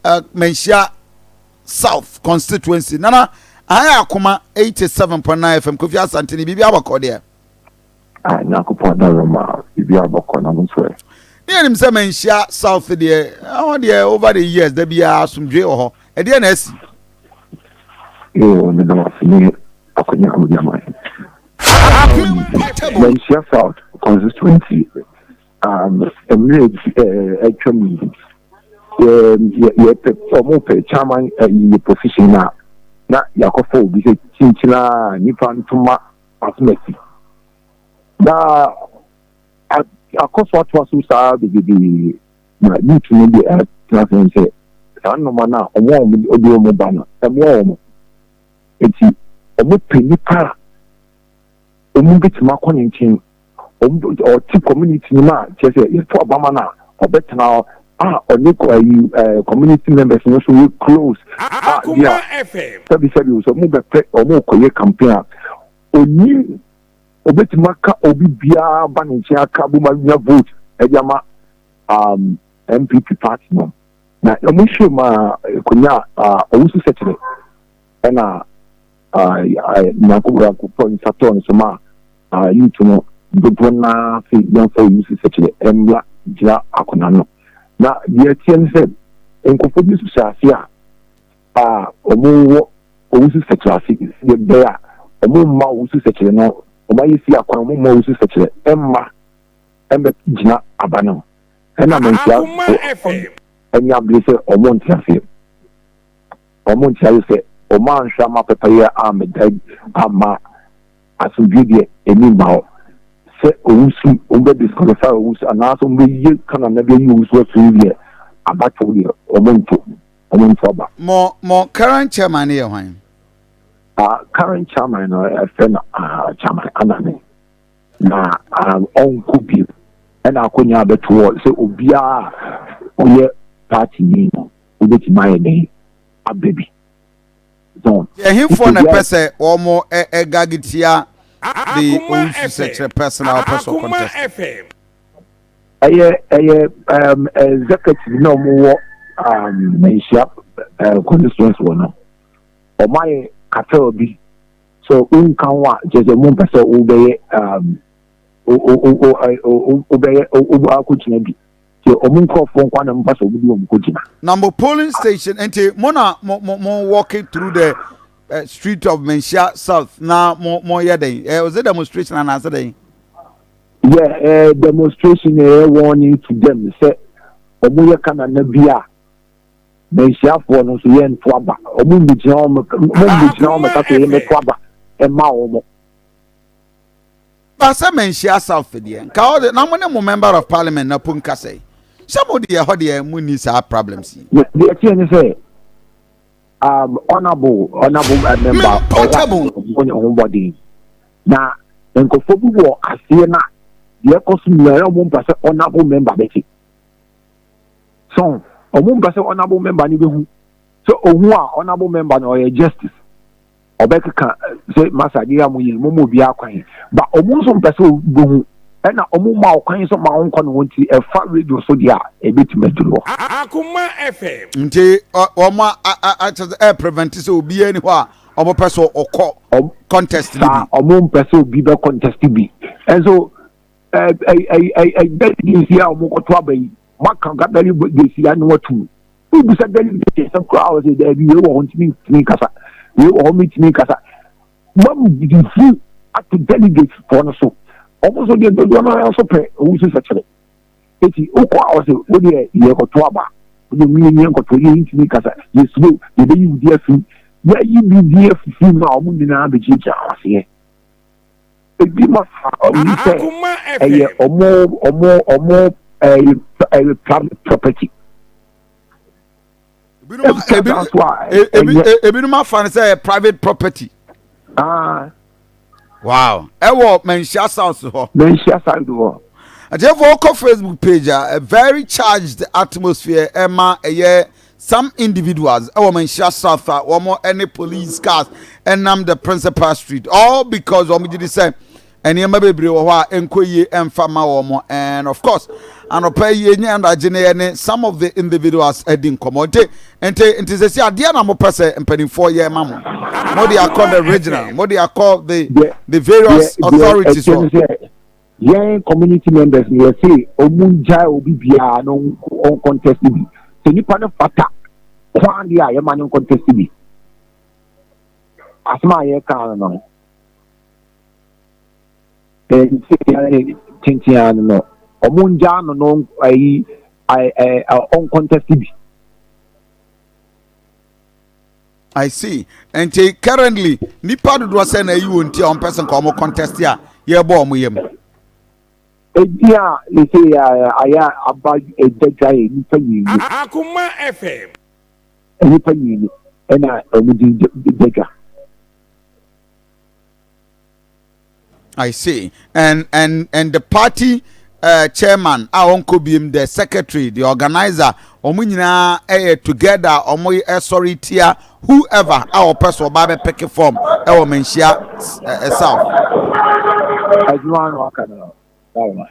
uh, Manhyia South constituency. Nana, I have Akuma 87.9 FM, Kofi Asantini, Bibi Abako there. Ah, Nyakopɔn da Roma, Bibi Abako, na mo sɛ. Ne yɛnim sɛ manhyia South deɛ, ɛhɔ deɛ over the years, da biara asomdwe wɔ hɔ. Ɛdeɛ na asi? Ee, ne da wase ne akwanya a wodi ama yɛn. Manhyia South constituency Um, mmerɛ bi eh, atwa mu yi, yɛpɛ ɔmo pɛ chairman ɛyɛ eh, position na na yɛakɔfa obi sɛ kyinkyina nipa ntoma asomasi na akɔ so atoa so saa bebrebe na youth no deɛ ɛtena sɛn sɛ saa nnoma no a ɔmo a ɔmo de ɔmo ba no ɛmoa ɔmo nti ɔmo pɛ nipa a ɔmo betumi akɔ ne nkyɛn ɔtse community no mu a, kyerɛ sɛ yɛto aba ma no a, ɔbɛtsena hɔ a ɔnye community members no so yɛ close a bi a sɛbisɛbi sɛ wɔbɛpɛ wɔrokɔyɛ campaign a, onyim obetumi aka obi biara aba ne nkyɛn aka abom anya vote dze ama NPP party no. Na wɔhwɛ mu a, okonyaa Owusu-Sekyere na. Nyankopɔn nsa tɔɔ ne so maa Yutu no dodoɔ no ara se yɛmfa oyi se sɛkyerɛ mmra gyina akona no. Na deɛ ɛteɛ ne sɛ, nkurɔfoɔ bi nso hyɛɛ aseɛ a wɔwɔ owusu sɛkyerɛ ase sɛdeɛ ɛbɛyɛ a wɔmma owusu sɛkyerɛ no, wɔayɛ si akwan wɔmma owusu sɛkyerɛ mma mmɛgyina aba no ho. Ɛna Mansuafoɔ anya bere sɛ wɔnte aseɛ. wɔnkyɛree sɛ wɔanhwɛ amma pɛpɛyɛ ammɛdan amma asomdwie deɛ ani mma hɔ sɛ owusu wɔbɛ disqualify owusu anaasɛ wɔbɛyie ka no anaa bɛyi owusu afiri deɛ abatow deɛ wɔnto wɔnto aba. Mo mo current chairman no yɛ hwan? Ah, current chairman no ɛfrɛ no ah, chairman anane na ah, ɔnkɔ bio ɛna akɔnya abɛtoɔ sɛ obiara ɔyɛ party ni no wobɛtumi ayɛ dɛn abɛ bi. Zon. Ɛhefoɔ na ɛpɛ sɛ wɔn ɛgage tia the Owusu Sɛkyerɛ person a ɔpɛ sɛ ɔcontest? Ɛyɛ ɛyɛ um, executive na wɔn wɔ um, Manhyia uh, constituency wɔ no. Wɔn ayɛ cartel bi so wonka ho a kyerɛ sɛ wɔn mpɛ sɛ wobɛyɛ um, wobɛyɛ wobɛyɛ wobɛyɛ akɔgyina bi. sɛ ɔmo nkorɔfoɔ nkoa na mofa sɛ ɔmo de ɔmo kɔ gyina. Na mo polling station nti mo na mo mo mo walking through the uh, street of Manhyia South na mo mo yɛ dɛn? Uh, was it demonstration anaasɛ dɛn? Yeah, uh, demonstration ɛyɛ uh, warning to them sɛ ɔmo yɛ kanana bi a Manhyiafoɔ no nso yɛn to aba ɔmo mbɛgyina ɔmo ɔmo mbɛgyina ɔmo kasa yɛn bɛto aba ɛma ɔmo. Ba sɛ manhyia south deɛ nka ɔde na mo ne mo member of parliament na po nkasɛe sɛ mo deɛ hɔ deɛ mo ni saa problems yi. Me deɛ ɛteɛ ne sɛ um, honorable honorable uh, member ɔwɔ ne ho bɔden na nkɔfo bi wɔ aseɛ na deɛ ɛkɔ so nyinaa ɔmo mpa sɛ honorable member bɛte so ɔmo mpa sɛ honorable member ne bɛhu sɛ ohu a honorable member na ɔyɛ justice ɔbɛkeka sɛ masa de yɛ mo yɛ mo mu obiara kwan ba ɔmo nso mpɛ sɛ ɔbɔ hu ɛna ɔmo ma ɔkwan nso ma ɔnkɔ ne ho nti ɛfa radio so deɛ a ɛbɛtumi aduru hɔ. Akoma FM. Nti ɔmo akyɛ sɛ ɛyɛ prevent sɛ obiara ni hɔ a ɔmo pɛ sɛ ɔkɔ contest bi. Saa ɔmo mpɛ sɛ obi bɛ contest bi ɛnso. deligency a wɔn kɔtɔ aba yi maka nka deligency ya ne wɔtum wobisa deligency nsɛm koraa wɔ sɛ daabi wei wɔ hɔ ntumi ntumi nkasa wei wɔ hɔ ntumi nkasa mam di fi ato deligency fɔ no so wɔn nso deɛ dodoɔ no ara nso pɛ wɔn nso sɛkyerɛ eti wokɔ a wɔsɛ wodeɛ yɛ kɔtɔ aba wɔn mu yɛ nyɛ nkɔtɔ yɛ ntumi nkasa yɛ suro yɛ bɛyi wudi afi yɛ yi bi di afifi mu a wɔn nyinaa bɛgyinagyina aseɛ. Ebi ma ɔmo hu sɛ ɛyɛ ɔmo ɔmo ɔmo ɛyɛ private property. Ebinom afa no sɛ ɛyɛ private property. Ah. Wow. Ɛwɔ Manhyia South hɔ. Manhyia South hɔ. Atiefo ɔkɔ Facebook page a, a very charged atmosphere ɛma ɛyɛ Some individuals ɛwɔ Manhyia South a wɔn ɛne police cars ɛnam the principal street all because wɔn gye di sɛ nneɛma bebree wɔ hɔ a ɛnkɔ yie ɛnfa ma wɔn and of course anɔpa yi enye anadagye ne yɛ ne some of the individuals ɛdi nkɔmɔ nti nti nti sɛ si adeɛ na mo pɛ sɛ mpanimfoɔ yɛ ma mo mo de akɔ the regional mo de akɔ the the various authorities hɔ. Yɛn community members no yɛse ɔmo ngyae obi biaa na ɔncontest bi. Sɛ nipa no fata koaa deɛ a yɛma no ncontest bi. Asem a yɛkaa no no tenteaa no no ɔmo ngyaa no na ayi ɔncontest bi. I see. Nti currently nipa dodoɔ sɛ na ayi wɔn ti a wɔn pɛsɛn ka wɔn contest a yɛbɔ wɔn yam. Eti a ne se yɛ ayɛ aba ɛda dwa yɛ nipa mmienu. Akoma FM. Nipa mmienu ɛna wɔn di da dwa. I see. And and and the party uh, chairman a ɔnkɔ biem the secretary the organizer wɔn nyinaa ɛyɛ together wɔn ɛsɔre tia whoever a ɔpɛ so ɔba bɛ pɛke form ɛwɔ mɛ nhyia ɛsaw. adwuma no aka no na wɔn.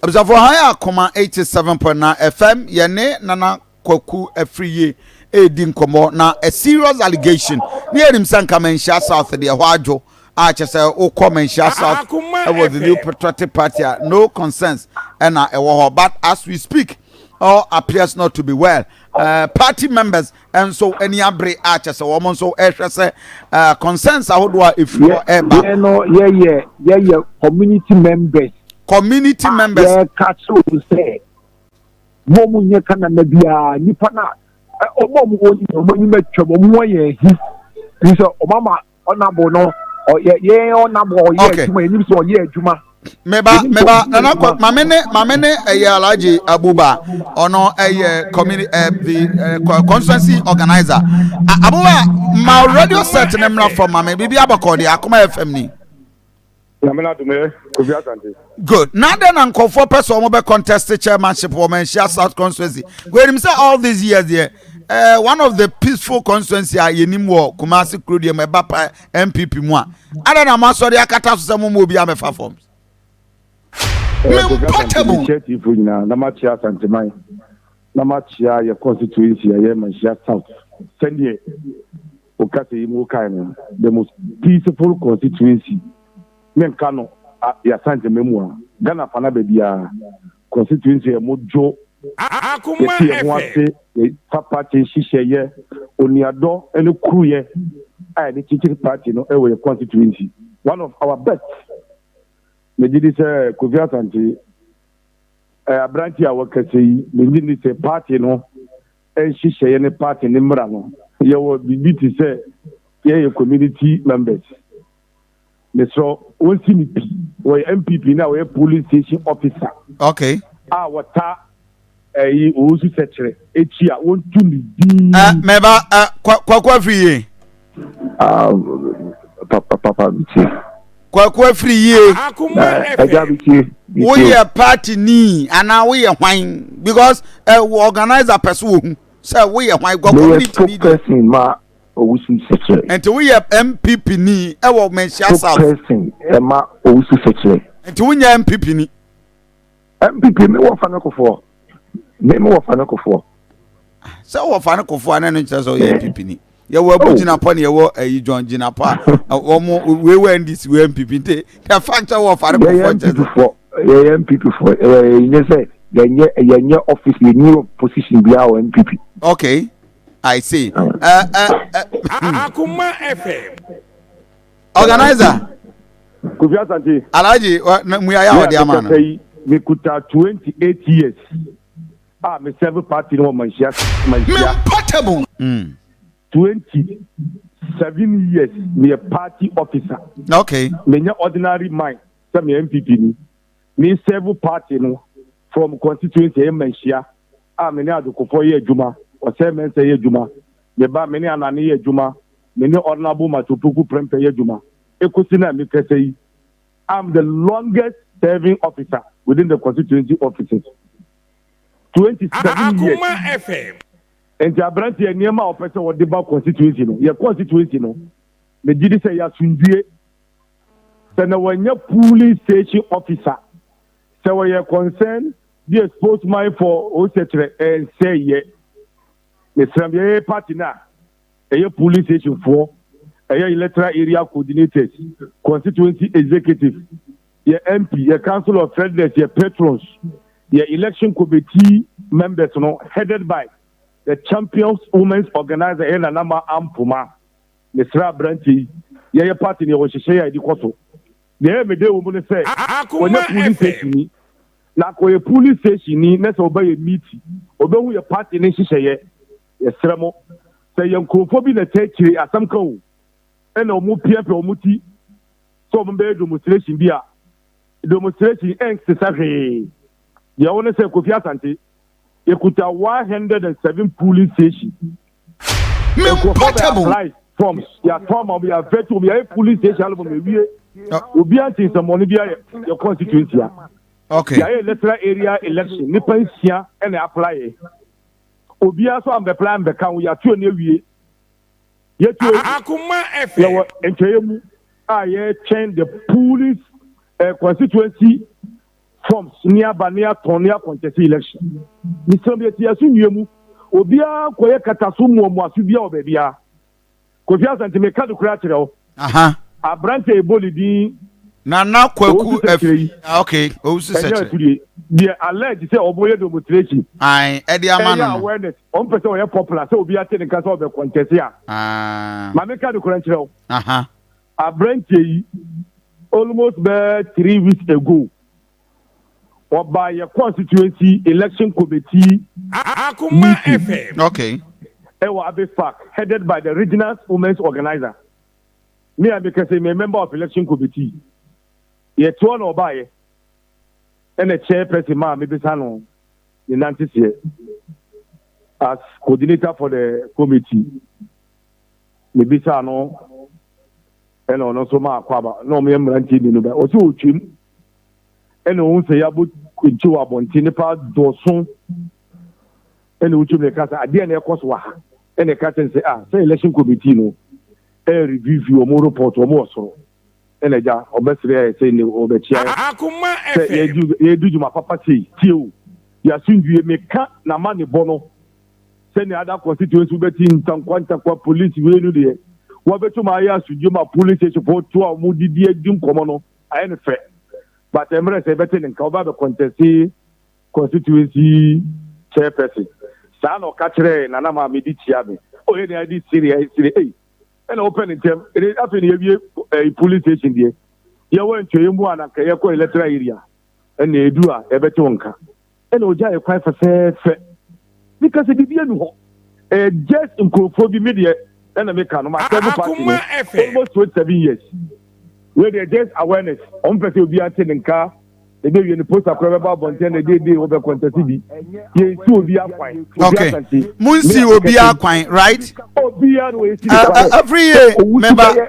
Abusuafoɔ Hann Akoma 87.9 FM yɛne Nana Kwaku Afriyie ɛredi nkɔmmɔ na a serious allegation ne yɛnim sɛ nka Manhyia South deɛ ɛhɔ adwo a kyɛ sɛ wokɔ Manhyia South ɛwɔ the new patriotic party a no concerns ɛna ɛwɔ hɔ but as we speak all appears not to be well uh, party members nso ani abere a kyɛ sɛ wɔn nso rehwɛ sɛ uh, concerns ahodoɔ a ɛfiri hɔ ɛreba. yɛ no yɛyɛ yɛyɛ community members. community ah, members. yɛka kyerɛ wɔn sɛ wɔn mu nyɛ ka nana biara nipa na wɔn a wɔn wɔ nyina wɔn anim atwam wɔn wɔ yɛn ahi nso wɔn ama ɔnabo no ɔyɛ yɛn ɔnabo ɔyɛ adwuma yɛn nim sɛ ɔyɛ adwuma. meba meba nana kɔ maame ne maame ne ɛyɛ alhaji abuba ɔno ɛyɛ community ɛ the ɛ constituency organizer abuba ma radio set ne mmra fam maame bibi abakɔ de akoma fm ni. nyame no adom ɛ kofi asante good na dɛn na nkɔfoɔ pɛ sɛ wɔbɛ contest chairmanship wɔ manhyia south constituency wɔnim sɛ all these years deɛ eh, one of the peaceful constituency a yɛnim wɔ kumase kuro deɛ mu ɛba pa npp mu a adɛn na moasɔre akata so sɛ moma obi amɛfa fam mempɔtable tiatifo nyinaa na makyia asanteman na makyia yɛ constituency a yɛ manhyia south sɛdeɛ Wo kasa yi mu wokae no the most peaceful constituency me nka no a y'Asante me mu a Ghana fana bɛbiaa constituency a mo dwo yɛ te yɛ ho ase yɛ fa party nhyehyɛ yɛ onuadɔ ne kuru yɛ a yɛde kyekyere party no wɔ yɛ constituency one of our best me gye di sɛ Kofi Asante ɛ aberanteɛ a wɔ kasa yi me gye di sɛ party no nhyehyɛeɛ ne party ne mmra no yɛwɔ biribi te sɛ yɛyɛ community members mesrɛ wɔn si ne pi wɔyɛ mpp na wɔyɛ polling station officer okay a wɔta ɛyi wɔn su sɛkyerɛ akyi a wɔn tu ne din. mɛba kwakwa fi yie. Ah, papa, papa, bitie. Kwaku afiri yie. Ẹja eh, bitie. Woyɛ party ni anaa woyɛ hwan because ẹ eh, organizer pẹ so wọ hu sẹ woyɛ hwan gọ community ni di. Meyɛ spokesperson ma Owusu Sẹkyerẹ. Nti woyɛ MPP ni ɛwɔ Manhyia South. Spokesperson ẹ ma Owusu Sẹkyerẹ. Nti wonyɛ MPP ni. MPP me wɔ fane kofoɔ. Me me wɔ fane kofoɔ. Ah, sɛ wɔ fane kofoɔ a na ɛno nkyerɛ sɛ ɔyɛ MPP ni. yɛwɔ abu oh. gyinapɔ ne yɛwɔ ayi eh, john gyinapɔ a eh, wɔn wei wɔ ndc wɔ npp nti the fact sɛ wɔ fare kɔfɔ nkyɛn sɛ. yɛyɛ npp fo ɛɛ nyɛ sɛ yɛnyɛ yɛnyɛ office yɛnyɛ position bi a wɔ npp. okay i see. Uh, uh, uh, akuma fm. organizer. kofi asante. alhaji na mu yaya ɔde ama no. me kuta twenty eight years a me serve party no wɔ manhyia manhyia. me portable. Mm. twenty seven years me yɛ party officer. okay. me nyɛ ordinary mind sɛ me npp ni me serve party no from constituency ɛyɛ manhyia a me ne adokofo yɛ adwuma ɔsɛ mɛnsɛ yɛ adwuma me ba me ne anane yɛ adwuma. me ne Honourable Mathew Poku Prempeh yɛ adwuma kosi na mekasa yi, I'm the longest serving officer within the constituency offices, twenty seven years. Nti aberanteɛ nneɛma a ɔpɛ sɛ ɔde ba constituency no yɛ constituency no megye di sɛ yɛ asomdue sɛ na wɔnyɛ polling station officer sɛ wɔyɛ concern be a spokesman for ɔsɛkyerɛ ɛnsɛ yɛ mesrɛ yɛyɛ party no a ɛyɛ polling station foɔ, ɛyɛ electoral area coordinators, constituency executive, yɛ MP, yɛ council of elders, yɛ patrons, yɛ election committee members no headed by the champions women's organizer ɛyɛ Nana Ma Ampoma. Mesrɛ aberanteɛ yi, yɛyɛ party no yɛwɔ nhyehyɛeɛ a yɛde kɔ so. Deɛ ɛyɛ me dɛ wɔ mu ne sɛ, wɔnyɛ polling station ni, na akɔyɛ polling station ni na sɛ ɔbɛyɛ meeting, ɔbɛhu yɛ party no nhyehyɛeɛ. Yɛsrɛ mo, sɛ ɛyɛ nkurɔfoɔ bi na ɛtaa akyire asɛm ka o, ɛna wɔn piapia wɔn ti sɛ wɔn bɛyɛ demonstration bi a, demonstration ɛnsesa hwee. Deɛ ɛwɔ ne sɛ Kofi Asante, yɛkuta 107 polling station. Nkurɔfoɔ bɛ apply forms, yɛatɔ ama wɔn, yɛavɛte wɔn, yɛayɛ polling station album awie. Obiara nte nsɛmmɔne bi ayɛ yɛ constituency a. Okay. Yɛayɛ electoral area election, nipa nsia ɛna apply yɛ. obiara so ambɛpra ambɛka ho, yɛato ani awie. Yɛto ani hwɛ wɔ nkyɛeɛ mu a yɛretwɛn the Poole's eh, constituency forms ne aba ne atɔn ne akɔnkyɛse election. Mesrɛ mo yɛte yɛn asomdwie mu, obiara nkɔyɛ kataso mmuamuaso biara wɔ baabiara. Kofi Asante meka no kura kyerɛ wo. Aha. Abrante ebo ne din. Nana Kwaku Afi. Ah okay. Owusu sɛ kyerɛ. Ɛnyɛ deɛ alleged sɛ ɔmo yɛ demonstration. Ayi ɛde ama no. Ɛyɛ awareness. Ɔmo pɛ sɛ ɔyɛ popular sɛ obi ate ne nka sɛ ɔbɛ contest a. Ah. Maame ka no kura nkyerɛ wo. Aha. Abrante yi almost bɛɛ three weeks ago Wɔbaa yɛ constituency election committee meeting okay. ɛwɔ Abbey Park headed by the regional women's organizer. Me a mekɛ sɛ me a member of election committee. Yɛtoɔ na ɔbaa yɛ ɛna chair person maa mebisa no ne nante seɛ as coordinator for the committee. Mebisa no ɛna ɔno nso maa kwaba na ɔmo yɛ mmeranteɛ mmienu bɛ ɔsɛ ɔtwam. ɛna ɔhu sɛ yɛabɔ kwanti wɔ abɔnten nipa dɔɔso ɛna wotumi na ɛka sɛ adeɛ na ɛkɔ so wɔ ha ɛna ɛka kyɛn sɛ ah sɛ election committee no ɛyɛ review wɔn report wɔn wɔ soro ɛna agya ɔbɛsrɛ ayɛ sɛ ne ɔbɛkyia sɛ yɛdi dwuma papa sei tie o yɛasomdwie meka na ma ne bɔ no sɛnea ada constituency wobɛti ntankwa ntankwa police wei no deɛ wɔbɛtumi ayɛ asomdwie ma police station foɔ to a wɔdidi adi nkɔmmɔ no Ayɛ no fɛ but ɛmmerɛ sɛ yɛbɛte ne nka ɔba bɛ conteste constituency chairperson saa na ɔka kyerɛɛ Nana Maame de tia me oh yɛ deɛ ade siri ayɛ siri ei ɛna wopɛ ne ntɛm ɛde afei ne yɛwie ɛyi police station deɛ yɛwɔ ntua yɛ mu a na nka yɛkɔ electoral area ɛna edu a yɛbɛte wo nka. ɛna ɔgyaeɛ kwan fɛfɛɛfɛ meka sɛ biribi anu hɔ ɛyɛ just nkurɔfoɔ bi medeɛ ɛna meka no masɛ no party no almost 27 years wei deɛ just awareness ɔmo pɛ sɛ obiara te ne nka ɛbɛwie no posta korɔ bɛba abɔnten na ɛdeɛdee wɔbɛ kɔntɛse bi yɛnsi obiara kwan okay monsi obiara kwan right obiara no wɔyɛsi ne kwan every year mɛba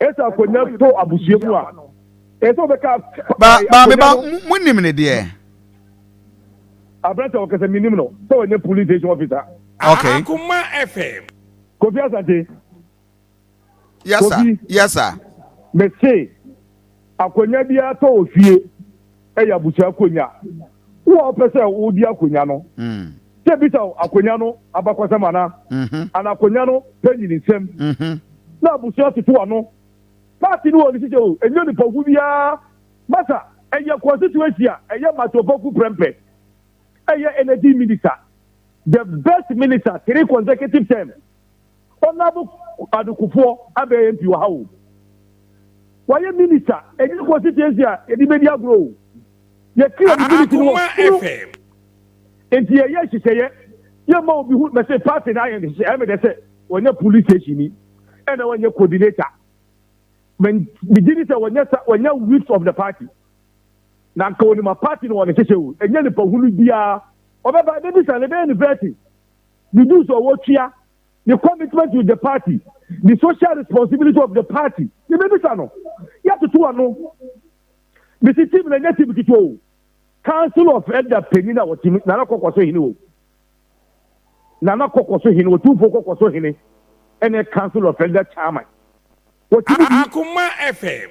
Ɛsɛ akonya tɔ abusua mu a, ɛsɛ sɛ ɔbɛka. Ba, ba, me ba, mo nim ne deɛ. Abrante ɔkasa mi nim no, sɛ ɔnyɛ police station officer. Okay. Akuma FM. Kofi Asante. Yes sir, yes sir. Mese. Akonya biara tɔ wɔ fie yɛ abusua akonya. Wo a wopɛ sɛ wodi akonya no, sɛ bisa wo akonya no abakɔsɛm anaa, anaa akonya no panyin nsɛm, na abusua toto ano. Party no wɔ ne hyehyɛ o, ɛnyɛ onipa ko biara. Masa, ɛyɛ constituency a ɛyɛ Matopoku prɛmpɛ. Ɛyɛ energy minister, the best minister three consecutive terms. Honorable Kwadu Kufuor abɛn MP wɔ ha o, wayɛ minister, ɛnyɛ constituency a yɛde bɛdi agorɔ o, yɛte obi minute no wɔ soro, nti yɛyɛ nhyehyɛeɛ, yɛmma obi ho, mɛse party no ayɛ nhyehyɛ, ɛyɛ me dɛ sɛ wɔnyɛ police station ni, ɛna wɔnyɛ coordinator, megye ni sɛ wɔnyɛ whips of the party, na nka wɔnima party no wɔn nhyehyɛ o, ɛnyɛ nipa hunu biara, ɔbɛba ɛbɛbisa no ɛbɛyɛ ne vetting. ne dues a ɔtua, ne commitment with the party, ne social responsibility of the party. Yɛbɛbisa no. Yɛatoto ano. Mesi team na nyɛ team ketewa o. Council of Elder panyin a ɔte mu, Nana Kɔkɔ so hene o. Nana Kɔkɔ so hene, Otumfo Kɔkɔ so hene, ɛne Council of Elder chairman. Wɔte mu bi. Akoma FM.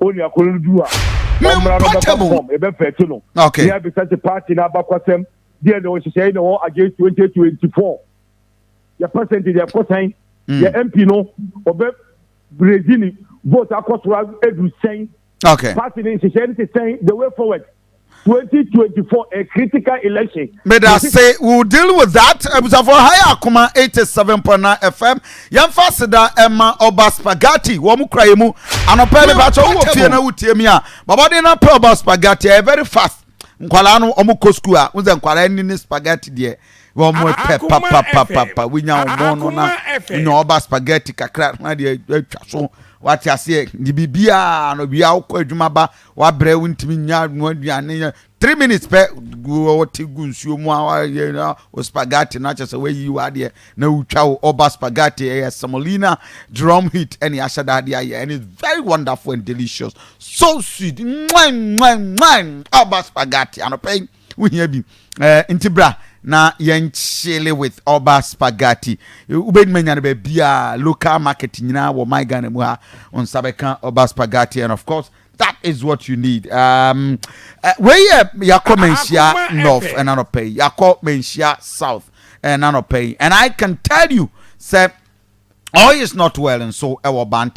onua koro no duru a, ɔmmra na ɔbɛfa no fɔm, yɛbɛfɛɛte no, na yɛabisa sɛ paati no abakwasɛm deɛ na ɔhyehyɛe na ɔwɔ against 2024. Yɛ percentage ɛkɔ sɛn? Hmm. Yɛ MP no ɔbɛ brezi ne vote akɔ soro aduru sɛn? Paati no nhyehyɛe no te sɛn the way forward? twenty twenty four a critical election. meda se we will deal with that abusafoɔ ha yɛ akoma eighty seven point nine fm yɛnfa aseda ɛma ɔba spaghetti wɔn kura yɛ mu anɔpɛ mi bàtɛ wɔn wɔ fie na wotie mi a bɔbɔden na pɛ ɔba spaghetti ɛyɛ very fast nkwadaa no wɔn kɔ school a wɔn sɛ nkwadaa ni ne spaghetti deɛ wɔn pɛ papapapapa wonya wɔn no na nya ɔba spaghetti kakra na deɛ atwa so wate aseɛ de biribiara no bia wokɔ adwuma ba. Wabrɛ wontumi nya noa aduane yɛ three minutes pɛ wɔte gu nsuo mu a wɔayɛ na wo spaghetti no akyɛ sɛ wɔayi wo adeɛ na wotwa wo ɔba spaghetti ɛyɛ semolina drum heat ɛne ahyɛ da adeɛ ayɛ and it's very wonderful and delicious so sweet mwan mwan mwan ɔba spaghetti anɔpɛ yi Wohia bi eh, nti bra na yɛn chile with Oba Spaghetti. Wobɛnim anya no baabiaa, local market nyinaa wɔ my Ghana mu ha. Wo nsa bɛka Oba Spaghetti and of course that is what you need. Um, eh, wei yɛ yɛakɔ manhyia north ɛna nɔpɛ yi, yɛakɔ manhyia south ɛna nɔpɛ yi and I can tell you sɛ all is not well nso ɛwɔ Bantam.